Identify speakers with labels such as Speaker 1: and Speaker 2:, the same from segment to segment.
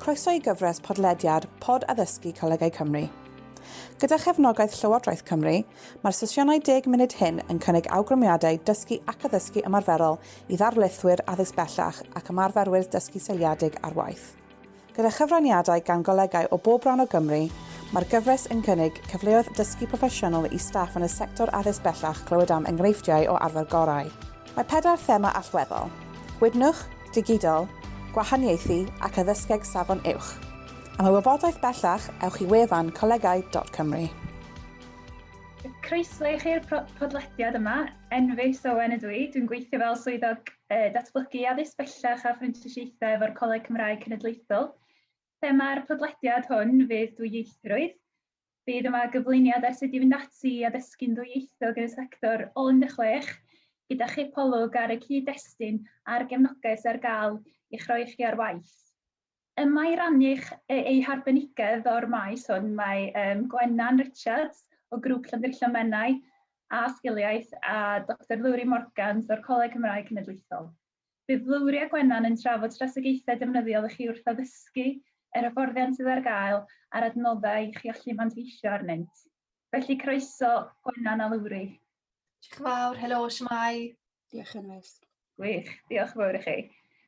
Speaker 1: Croeso i gyfres podlediad Pod Addysgu Colegau Cymru. Gyda chefnogaeth Llywodraeth Cymru, mae'r sesiynau deg munud hyn yn cynnig awgrymiadau dysgu ac addysgu ymarferol i ddarlithwyr addysg bellach ac ymarferwyr dysgu seiliedig ar waith. Gyda chyfraniadau gan golegau o bob rhan o Gymru, mae'r gyfres yn cynnig cyfleoedd dysgu proffesiynol i staff yn y sector addysg bellach clywed am enghreifftiau o arfer gorau. Mae pedair thema allweddol, gwydnwch, digidol, gwahaniaethu ac addysgeg safon uwch. Am y wybodaeth bellach, ewch i wefan colegau.cymru. Croeso
Speaker 2: i chi i'r podlediad yma. Enveus Owen ydw i, dwi'n gweithio fel swyddog E, Datblygu addysg bellach a phrentisiaethau efo'r Coleg Cymraeg Cenedlaethol. Thema'r podlediad hwn fydd dwyieithrwydd. Bydd yma gyflwyniad ar sut i fynd ati i addysgu'n ddwyieithog yn y sector o 16, gyda chipolwg ar y cyd-destun a'r gefnogaeth sydd ar gael i'ch rhoi chi ar waith. Ym mae rannu eich eu harbenigedd o'r maes hwn, mae um, Gwennan Richards o Grŵp Llandrillo Menai a Sgiliaeth a Dr Lowri Morgans o'r Coleg Cymraeg Cenedlaethol. Bydd Lowri a Gwennan yn trafod strategaethau defnyddiol i chi wrth addysgu yr hyfforddiant sydd ar gael a'r adnoddau i chi allu manteisio arnynt. Felly croeso Gwennan a Lowri. Diolch yn fawr,
Speaker 3: helo, siamai. Diolch, Anwes.
Speaker 1: Gwych, diolch yn
Speaker 2: fawr i chi.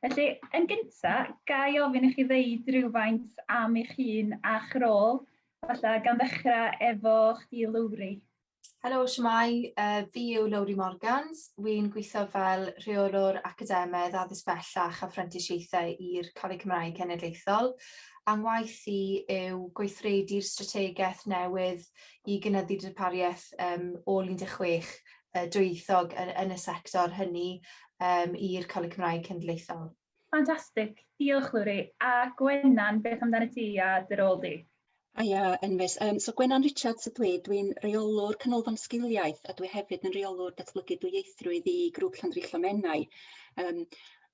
Speaker 2: Felly, yn gyntaf, ga i ofyn i chi ddeud rhywfaint am eich hun a'ch rôl, falle gan ddechrau efo chdi Lowri. Helo,
Speaker 3: siamai, uh, fi yw Lowri Morgans. Wy'n gweithio fel rheolwr academaidd addysg bellach a phrentisiaethau i'r Coleg Cymraeg Cenedlaethol. Angwaith i yw gweithredu'r strategaeth newydd i gynyddu darpariaeth um, ôl 16 yy dwyieithog yn yn y sector hynny yym i'r Coleg Cymraeg Cenedlaethol. Ffantastig,
Speaker 2: diolch Lowri. A Gwenan, beth amdanat ti a dy rôl di? Haia Enfys,
Speaker 4: yym so Gwenan Richards ydw i, dwi'n Rheolwr Canolfan Sgiliaeth a dwi hefyd yn Rheolwr Datblygu Dwyieithrwydd i Grŵp Llandrillo Menai. Yym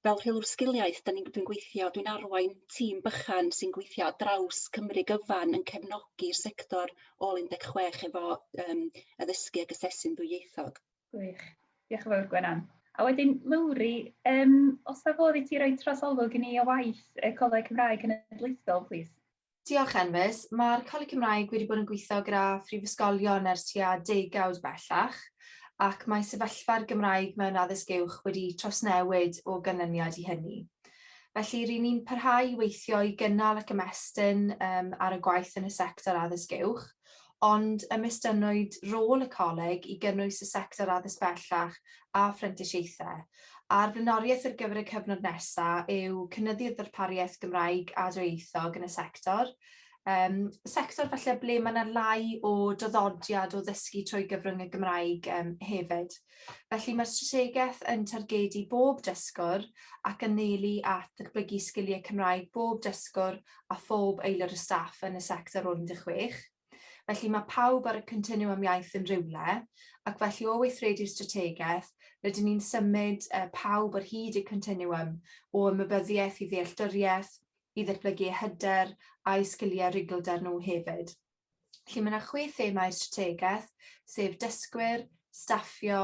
Speaker 4: fel rheolwr sgiliaeth 'dan ni'n dwi'n gweithio dwi'n arwain tîm bychan sy'n gweithio ar draws Cymru gyfan yn cefnogi'r sector ôl un deg chwech efo yym addysgu ag asesu'n ddwyieithog. Gwych.
Speaker 2: Diolch yn fawr Gwenan. A wedyn Lowri, yym os na fodd i ti roi trosolwg i ni o waith y Coleg Cymraeg Cenedlaethol plîs? Diolch Enfys.
Speaker 3: Mae'r Coleg Cymraeg wedi bod yn gweithio gyda phrifysgolion ers tua degawd bellach ac mae sefyllfa'r Gymraeg mewn addysg uwch wedi trawsnewid o ganlyniad i hynny. Felly ry'n ni'n parhau i weithio i gynnal ac ymestyn um, ar y gwaith yn y sector addysg uwch, ond ymestynnwyd rôl y Coleg i gynnwys y sector addysg bellach a phrentisiaethau, a'r flaenoriaeth ar gyfer y cyfnod nesaf yw cynyddu'r ddarpariaeth Gymraeg a dwyieithog yn y sector, yym sector falle ble mae 'na lai o draddodiad o ddysgu trwy gyfrwng y Gymraeg yym hefyd. Felly mae'r strategaeth yn targedu bob dysgwr ac anelu at ddatblygu sgiliau Cymraeg bob dysgwr a phob aelod o staff yn y sector o'r 16, felly mae pawb ar y continwwm iaith yn rywle, ac felly o weithredu'r strategaeth, rydyn ni'n symud pawb ar hyd y continwwm o ymwybyddiaeth i ddealltwriaeth, i ddatblygu eu hyder a'u sgiliau rugglder nhw hefyd. Felly mae 'na chwe thema i'r strategaeth, sef dysgwyr, staffio,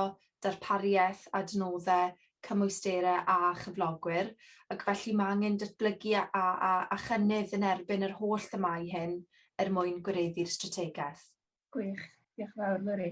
Speaker 3: darpariaeth, adnoddau, cymwysterau a chyflogwyr, ac felly mae angen datblygu a a a a chynnydd yn erbyn yr holl themâu hyn er mwyn gwireddu'r strategaeth. Gwych,
Speaker 2: diolch yn fawr Lwri.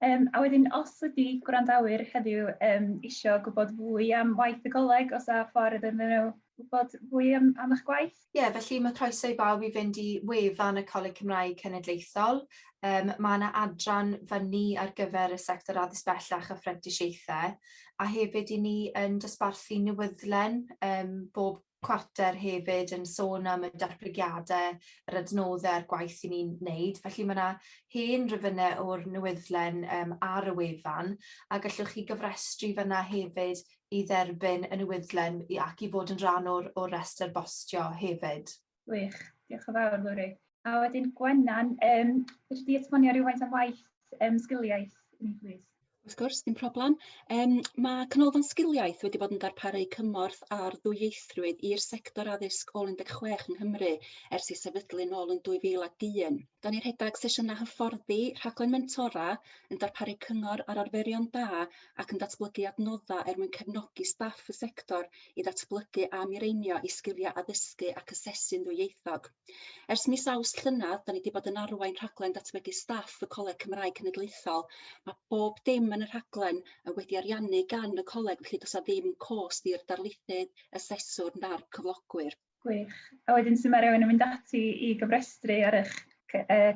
Speaker 2: Yym a wedyn os ydi gwrandawyr heddiw yym isio gwybod fwy am waith y Goleg, os â ffordd iddyn nhw wybod fwy am am eich gwaith? Ie, felly mae croeso
Speaker 3: i bawb i fynd i wefan y Coleg Cymraeg Cenedlaethol. Yym mae 'na adran fyny ar gyfer y sector addysg bellach a phrentisiaethau, a hefyd 'yn ni yn dosbarthu newyddlen yym bob Quarter hefyd yn sôn am y datblygiadau, yr adnoddau a'r gwaith 'yn ni'n neud. Felly ma' 'na hen rifynne o'r newyddlen yym ar y wefan a gallwch chi gofrestru fanna hefyd i dderbyn y newyddlen i ac i fod yn rhan o'r o'r restr bostio hefyd. Gwych, diolch
Speaker 2: yn fawr Lowri. A wedyn Gwenan, yym fedri di esbonio rywfaint am waith yym sgiliaeth i ni plîs? Wrth
Speaker 4: gwrs, dim problem. Yym ma' Canolfan Sgiliaeth wedi bod yn darparu cymorth ar ddwyieithrwydd i'r sector addysg ôl 16 yng Nghymru ers ei sefydlu nôl yn 2001. Da ni rhedeg sesiynau hyfforddi, rhaglen mentora, yn darparu cyngor ar arferion da ac yn datblygu adnodda er mwyn cefnogi staff y sector i ddatblygu a mireinio i sgiliau addysgu ac asesu'n ddwyieithog. Ers mis Awst llynedd, da ni wedi bod yn arwain rhaglen datblygu staff y Coleg Cymraeg Cenedlaethol. Mae bob dim yn y rhaglen yn wedi ariannu gan y coleg, felly does ddim cost i'r darlithydd, aseswr na'r cyflogwyr. Gwych. A
Speaker 2: wedyn sy'n mae rhywun yn mynd ati i gyfrestru ar eich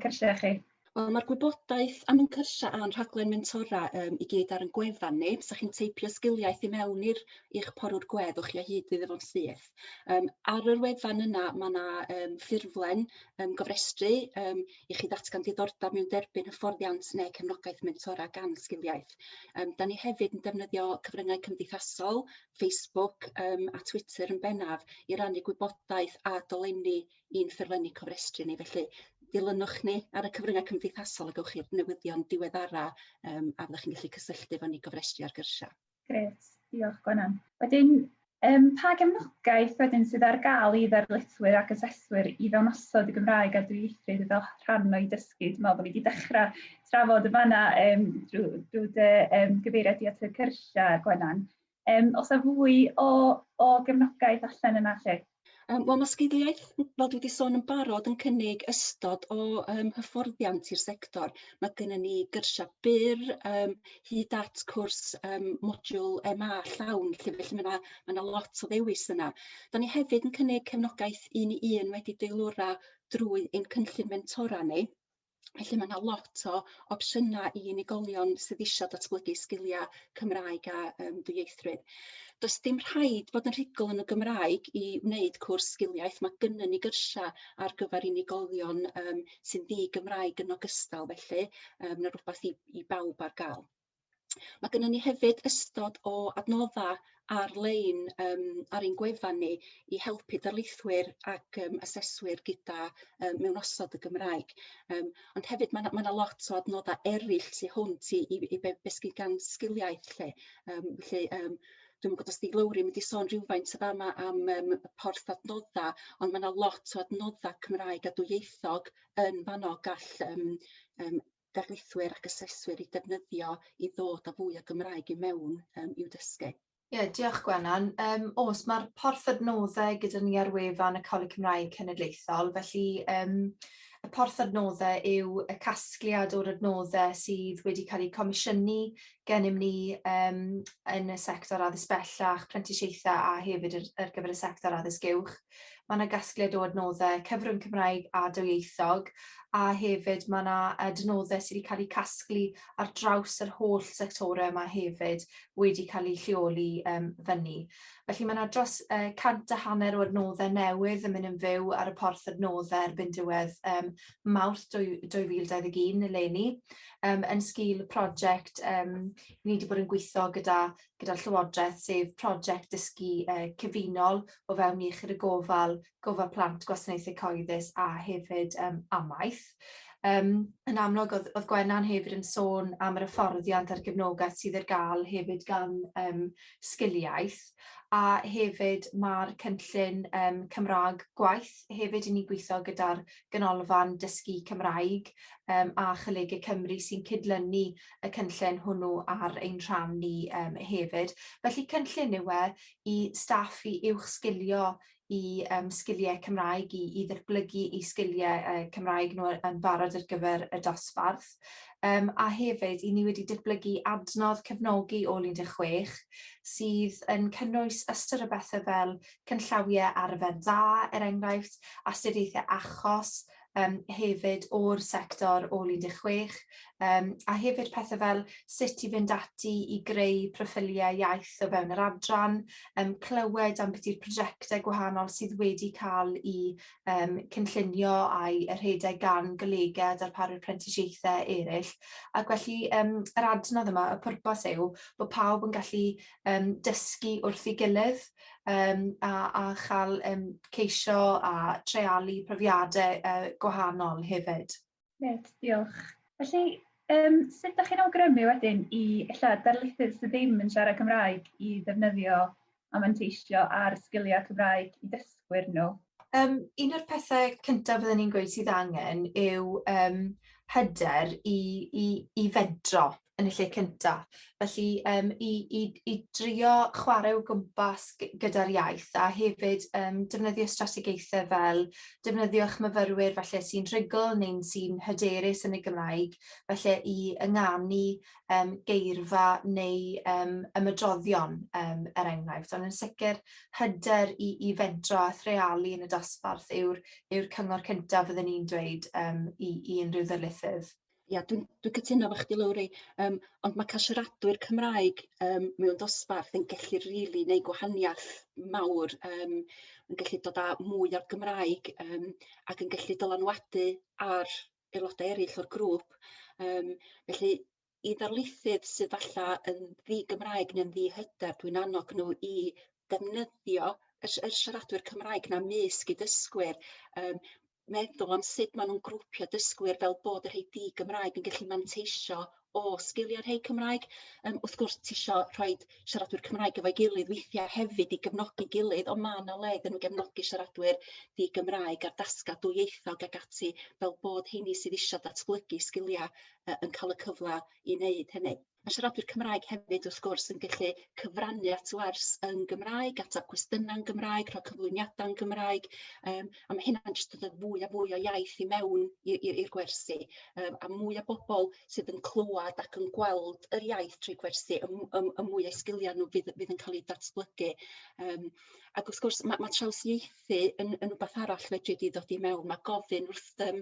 Speaker 2: cyrsiau chi? Wel, mae'r gwybodaeth
Speaker 4: am ein cyrsiau a'n rhaglen mentora um, i gyd ar yn gwefan ni. Sa chi'n teipio sgiliaeth i mewn i'r i'ch porwr gwedd o'ch chi o hyd iddo fo'n syth. Um, ar yr wefan yna mae yna um, ffurflen um, gofrestru um, i chi ddatgan diddordeb mewn derbyn hyfforddiant neu cefnogaeth mentora gan sgiliaeth. Um, da ni hefyd yn defnyddio cyfryngau cymdeithasol, Facebook um, a Twitter yn bennaf i rannu gwybodaeth a dolenni i'n ffurflenni cofrestru ni felly dilynwch ni ar y cyfryngau cymdeithasol a gewch chi'r newyddion diweddara um, a fyddwch chi'n gallu cysylltu efo ni gofrestru ar gyrsiau. Gret, diolch
Speaker 2: Gwenan. Wedyn, um, pa gefnogaeth wedyn sydd ar gael i ddarlithwyr ac aseswyr i fewn osod y Gymraeg a dwyieithrwydd fel rhan o'i dysgu? Dwi'n meddwl bod ni wedi dechrau trafod y fanna um, drwy, drwy dy um, gyfeiriad i at y cyrsiau, Gwenan. Yym, os a fwy o o gefnogaeth allan yna 'lly? Yym wel ma' sgiliaeth
Speaker 4: n- fel dwi 'di sôn yn barod yn cynnig ystod o yym hyfforddiant i'r sector ma' gynnon ni gyrsia byr yym hyd at cwrs yym modiwl Em A llawn 'lly felly ma' 'na ma' 'na lot o ddewis yna. 'Dan ni hefyd yn cynnig cefnogaeth un i un wedi deilwra drwy ein cynllun mentora ni. Felly mae 'na lot o opsiyna i unigolion sydd isio datblygu sgilia Cymraeg a yym dwyieithrwydd. Does dim rhaid bod yn rhugl yn y Gymraeg i wneud cwrs sgiliaeth ma' gynnon ni gyrsia ar gyfer unigolion yym sy'n ddi-Gymraeg yn ogystal felly yym ma' rwbath i i bawb ar ga'l. Mae gennym ni hefyd ystod o adnoddau ar-lein yym ar ein gwefan ni i helpu darlithwyr ac yym aseswyr gyda yy mewnosod y Gymraeg. Yym ond hefyd ma' 'na ma' 'na lot o adnodda eryll tu hwnt i i i be' be' sy gan sgiliaeth 'lly yym felly yym dwi'm yn gwbod os 'di Lowri mynd i sôn rywfaint y' fama am yym y porth adnodda ond ma' 'na lot o adnodda Cymraeg a dwyieithog yn fanno gall yym yym darlithwyr ac aseswyr i defnyddio i ddod â fwy o Gymraeg i mewn um, i'w dysgu. Ie, yeah, diolch
Speaker 3: Gwenan. Um, os mae'r porth adnoddau gyda ni ar wefan y Coleg Cymraeg Cenedlaethol, felly um, y porth adnoddau yw y casgliad o'r adnoddau sydd wedi cael eu comisiynu gennym ni yym yn y sector addysg bellach, prentisiaethau a hefyd yr ar gyfer y sector addysg uwch. Mae yna gasgliad o adnoddau cyfrwng Cymraeg a dwyieithog a hefyd mae yna adnoddau sydd wedi cael eu casglu ar draws yr holl sectorau yma hefyd wedi cael eu lleoli um, fyny. Felly mae yna dros uh, cant a hanner o adnoddau newydd yn mynd yn fyw ar y porth adnoddau erbyn diwedd um, Mawrth 2021 eleni um, yn sgil y prosiect um, ni wedi bod yn gweithio gyda gyda'r Llywodraeth sef prosiect dysgu uh, cyfunol o fewn iechyd y gofal, gofal plant, gwasanaethau cyhoeddus a hefyd um, amaeth. Um, yn amlwg, oedd, oedd Gwenna'n hefyd yn sôn am yr hyfforddiant a'r gefnogaeth sydd ar gael hefyd gan um, sgiliaeth a hefyd mae'r cynllun um, Cymraeg gwaith hefyd i ni gweithio gyda'r Ganolfan Dysgu Cymraeg um, a Cholegau Cymru sy'n cydlynu y cynllun hwnnw ar ein rhan ni um, hefyd. Felly cynllun yw e i staff i uwch sgilio i um, sgiliau Cymraeg, i, i ddatblygu i sgiliau uh, Cymraeg nhw yn barod ar gyfer y dosbarth. Um, a hefyd, i ni wedi datblygu adnodd cefnogi ôl 16 sydd yn cynnwys ystyr o bethau fel canllawiau arfer da, er enghraifft, astudiaethau achos yym hefyd o'r sector ôl 16, yym a hefyd pethe fel sut i fynd ati i greu proffiliau iaith o fewn yr adran, yym clywed ambyti prosiectau gwahanol sydd wedi cael eu yym cynllunio a'u rhedeg gan golegau a darparwyr prentisiaethau eraill, ac felly yym yr adnodd yma, y pwrpas yw bod pawb yn gallu yym dysgu wrth ei gilydd, um, a, a chael um, ceisio a treialu profiadau
Speaker 2: uh, gwahanol
Speaker 3: hefyd. Gret,
Speaker 2: diolch.
Speaker 3: Felly,
Speaker 2: um, sut ydych chi'n awgrymu wedyn i illa darlithydd sydd ddim yn siarad Cymraeg i ddefnyddio a manteisio ar sgiliau Cymraeg i dysgwyr nhw? Um, un o'r
Speaker 3: pethau cyntaf fydden ni'n gweud sydd angen yw um, hyder i, i, i fedro. yn y lle cynta'. Felly yym i i i drio chware o gwmpas g- gyda'r iaith a hefyd yym defnyddio strategaethau fel defnyddio'ch myfyrwyr falle sy'n rhugl neu'n sy'n hyderus yn y Gymraeg, falle i ynganu yym geirfa neu yym ymedroddion yym er enghraifft. Ond yn sicr hyder i i fentro a threialu yn y dosbarth yw'r yw'r cyngor cyntaf fyddwn i'n dweud yym i i unrhyw ddarlithydd. Ia dwi'n dwi'n
Speaker 4: cytuno efo chdi Lowri yym ond ma' ca'l siaradwyr Cymraeg yym mewn dosbarth yn gellu rili neud gwahaniath mawr yym yn gallu dod â mwy o'r Gymraeg yym ac yn gallu dylanwadu ar aelodau eryll o'r grŵp yym felly i ddarlithydd sydd falla yn ddi-Gymraeg ne'n ddi-hyder dwi'n annog n'w i ddefnyddio y si- y siaradwyr Cymraeg 'na 'mysg eu dysgwyr yym meddwl am sut ma' nw'n grwpio dysgwyr fel bod y rhei di-Gymraeg yn gallu manteisio o sgilia rhei Cymraeg yym wrth gwrs tisio rhoid siaradwyr Cymraeg efo'i gilydd weithia' hefyd i gefnogi gilydd on' ma' 'na le iddyn n'w gefnogi siaradwyr di-Gymraeg ar dasga dwyieithog ag ati fel bod 'heini sydd isio datblygu sgilia yy yn ca'l y cyfla i neud hynny. Mae siaradwyr Cymraeg hefyd wrth gwrs yn gallu cyfrannu at wers yn Gymraeg, ateb cwestiynau'n Gymraeg, rhoi cyflwyniadau'n Gymraeg, um, a mae hynna'n jyst dod fwy a fwy o iaith i mewn i'r gwersi, um, a mwy o bobl sydd yn clywed ac yn gweld yr iaith trwy gwersi, y, y, y mwy o sgiliau nhw fydd, fydd yn cael eu datblygu. Um, ac wrth gwrs, mae, mae traws ieitho Felly yn yn wbath arall fedri di ddod i mewn ma' gofyn wrth yym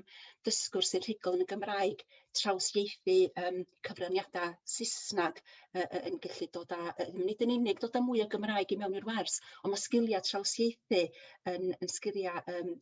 Speaker 4: dysgwr sy'n rhugl yn y Gymraeg trawsieithu yym cyfraniada Saesnag yy yy yn gellu dod â yy nid yn unig dod â mwy o Gymraeg i mewn i'r wers on' ma' sgilia trawsieithu yn yn sgilia yym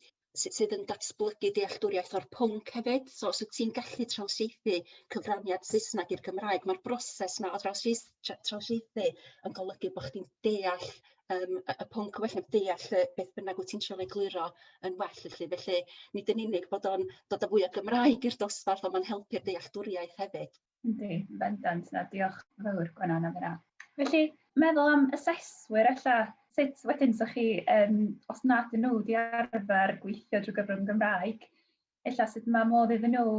Speaker 4: sy- sydd yn datblygu dealltwriaeth o'r pwnc hefyd so os wt ti'n gallu trawsieithu cyfraniad Saesnag i'r Gymraeg ma'r broses 'na o drawsieith- tra- trawsieithu yn golygu bo' chdi'n deall yym y y pwnc wella deall yy beth bynnag wt ti'n trio egluro yn well felly. Felly nid yn unig bod o'n dod â fwy o Gymraeg i'r dosbarth on' ma'n helpu'r dealltwriaeth hefyd. Yndi yn bendant.
Speaker 2: Na diolch yn fowr Gwenan am hynna. Felly meddwl am aseswyr ella, sut wedyn 'sach chi yn os nad 'dyn nhw 'di arfer gweithio drwy gyfrwng y Gymraeg, ella sut mae modd iddyn nhw,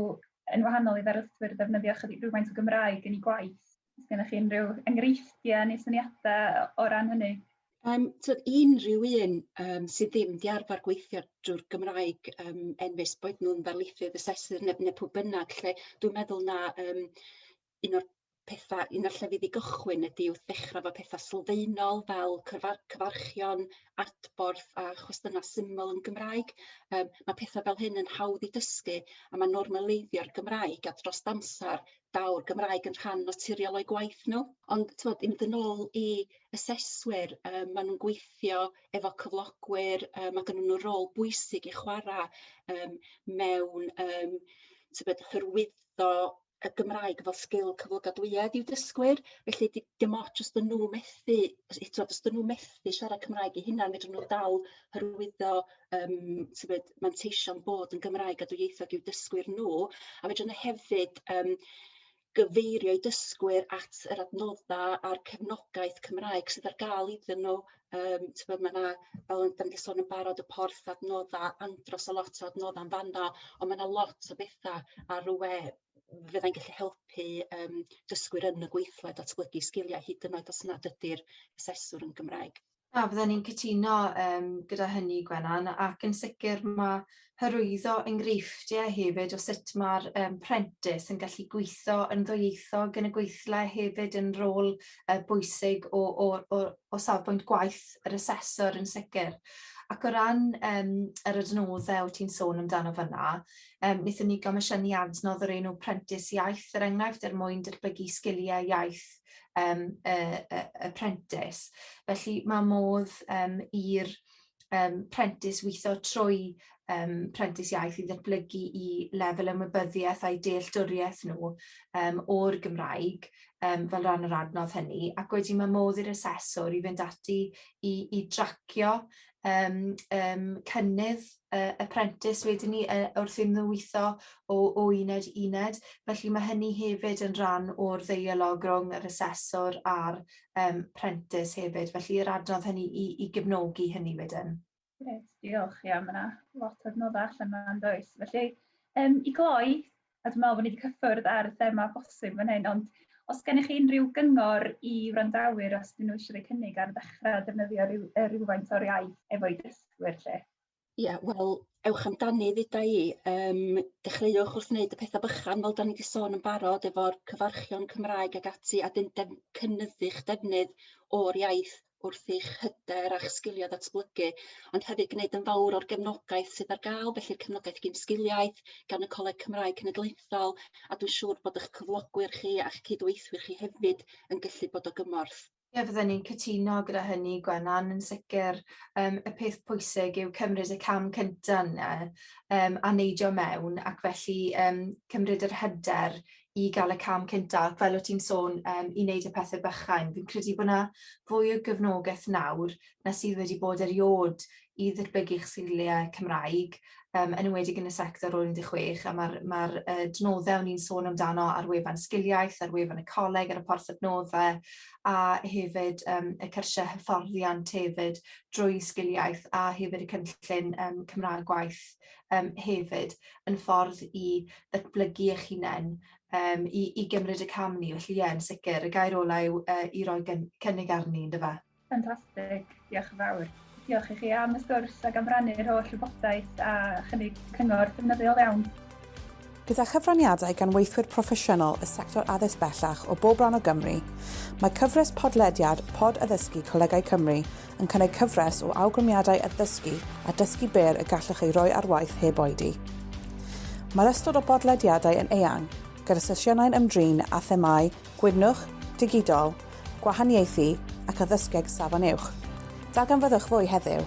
Speaker 2: yn wahanol i ddarlithwyr, ddefnyddio chydig rhywfaint o Gymraeg yn ei gwaith? Os gennych chi unrhyw enghreifftiau neu syniadau o ran hynny? Um, tyd,
Speaker 4: unrhyw un um, sydd ddim di arfer gweithio drwy'r Gymraeg um, enfus, boed nhw'n ddarlithydd, asesydd neu, neu pwy bynnag, lle dwi'n meddwl na um, un o'r petha... un o'r llefydd i gychwyn ydi wrth ddechra efo petha sylfaenol fel cyfa- cyfarchion, adborth a chwestiyna' syml yn Gymraeg yym ma' petha fel hyn yn hawdd i dysgu a ma' normaleiddio Gymraeg a dros amsar daw'r Gymraeg yn rhan naturiol o'u gwaith n'w. Ond t'mod i mynd yn ôl i aseswyr yy ma' nw'n gweithio efo cyflogwyr yy ma' gynnyn n'w rôl bwysig i chwara' yym mewn yym tybed hyrwyddo y Gymraeg fel sgil cyflogadwyedd i'w dysgwyr felly di- dim ots os 'dyn nhw methu os yy t'od os 'dyn nhw methu siarad Cymraeg eu hunan fedrwn n'w dal hyrwyddo yym tybed manteision bod yn Gymraeg a dwyieithog i'w dysgwyr n'w a fedrwn ni hefyd yym gyfeirio eu dysgwyr at yr adnodda' a'r cefnogaeth Cymraeg sydd ar ga'l iddyn n'w Yym t'bod ma' 'na fel o'n 'dan ni 'di sôn yn barod y porth adnodda andros o lot o adnodda'n fan 'no on' ma' 'na lot o betha ar y we fyddai'n gallu helpu yym dysgwyr yn y gweithle datblygu sgilia hyd yn oed os nad ydi'r aseswr yn Gymraeg. Na fydden i'n cytuno
Speaker 3: yym gyda hynny Gwenan ac yn sicir ma' hyrwyddo enghreifftiau hefyd o sut mae'r um, prentis yn gallu gweithio yn ddwyieithog yn y gweithle hefyd yn rôl uh, bwysig o, o, o, o safbwynt gwaith yr asesor yn sicr. Ac o ran um, yr adnoddau wyt ti'n sôn amdano fyna, um, wnaethon ni gomisiynu adnodd o'r enw prentis iaith, er enghraifft, er mwyn derblygu sgiliau iaith um, y, y, y prentis. Felly mae modd um, i'r um, prentis weithio trwy um, prentis iaith i ddatblygu i lefel ymwybyddiaeth a'i dealltwriaeth nhw um, o'r Gymraeg um, fel rhan o'r adnodd hynny. Ac wedi mae modd i'r aseswr i fynd ati i, i dracio um, um, cynnydd uh, y prentis wedyn ni uh, wrth iddyn nhw weithio o, o uned i uned. Felly mae hynny hefyd yn rhan o'r ddeialog rhwng yr aseswr a'r um, prentis hefyd, felly yr adnodd hynny i, i gefnogi hynny wedyn. Gret, diolch.
Speaker 2: Ia, mae yna lot o adnoddau allan yma'n does. Felly, um, i gloi, a dwi'n meddwl bod ni wedi cyffwrdd ar y thema bosib fan hyn, ond os gennych chi unrhyw gyngor i wrandawyr os dyn nhw eisiau rhoi cynnig ar ddechrau defnyddio rhyw, rhywfaint o'r iaith efo'i dysgwyr lle? Ia wel
Speaker 4: ewch amdani ddeda i yym dechreuwch wrth wneud y petha bychan fel 'dan ni 'di sôn yn barod efo'r cyfarchion Cymraeg ag ati a 'dyn def- cynyddu'ch defnydd o'r iaith wrth i'ch hyder a'ch sgilia ddatblygu ond hefyd gneud yn fawr o'r gefnogaeth sydd ar ga'l felly cefnogaeth gin sgiliau gan y Coleg Cymraeg Cenedlaethol a dwi siŵr bod 'ych cyflogwyr chi a'ch cydweithwyr chi hefyd yn gyllu bod o gymorth. Ie fydden ni'n
Speaker 3: cytuno gyda hynny Gwenan yn sicr yym y peth pwysig yw cymryd y cam cynta yna yym a neidio mewn ac felly yym cymryd yr hyder i ga'l y cam cynta ac fel o' ti'n sôn yym i neud y pethe bychain fi'n credu bo' 'na fwy o gefnogeth nawr na sydd wedi bod eriod i ddirbygu'ch sgiliau Cymraeg, yn enwedig yn y sector o'r 16, a mae'r ma adnoddau o'n i'n sôn amdano ar wefan Sgiliaeth, ar wefan y coleg, ar y porth adnoddau, a hefyd um, y cyrsiau hyfforddiant hefyd drwy Sgiliaeth, a hefyd y cynllun um, Cymraeg gwaith um, hefyd, yn ffordd i ddatblygu eich hunain um, i, i gymryd y cam ni. Felly ie, yn sicr, y gair olau yw uh, i roi cynnig arni, ynddo fe? Ffantastig,
Speaker 2: diolch yn fawr. Diolch i chi am y sgwrs ac am rannu'r holl wybodaeth a chynnig cyngor defnyddiol iawn. Gyda
Speaker 1: chyfraniadau gan weithwyr proffesiynol y sector addysg bellach o bob rhan o Gymru, mae cyfres podlediad Pod Addysgu Colegau Cymru yn cynnig cyfres o awgrymiadau addysgu a dysgu byr y gallwch ei roi ar waith heb oedi. Mae'r ystod o bodlediadau yn eang, gyda sesiynau'n ymdrin â themâu Gwydnwch, Digidol, Gwahaniaethu ac Addysgeg Safon Uwch. Darganfyddwch fwy heddiw!